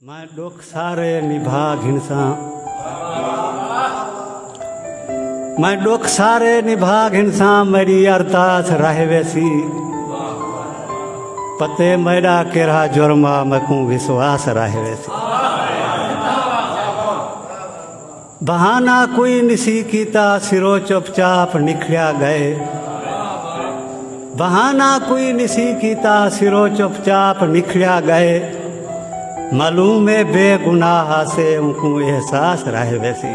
میں ڈکھ سارے نبھا گھنساں میں ڈکھ سارے نبھا گھنساں میری ارتاس رہ ویسی پتے میرا کیرا جرما میں کوں وسواس رہ ویسی بہانہ کوئی نسی کیتا سرو چپ چاپ نکھلیا گئے بہانہ کوئی نسی کیتا سرو چپ چاپ نکھلیا گئے معلوم ہے بے گناہ سے ان کو احساس رہے ویسی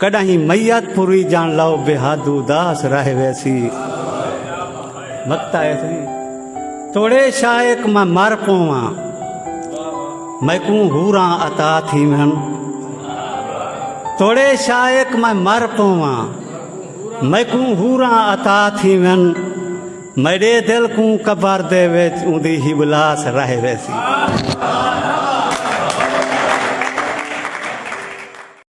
کڈاہیں میت پوری جان لو بہاد اداس رہ ویسی وقت آئے تھی توڑے شائق میں مر پواں میں کوں ہوراں عطا تھی من توڑے شائق میں مر پواں میں کوں ہوراں عطا تھی من میرے دل کوں قبر دے وچ اوندی ہی بلاس رہ ویسی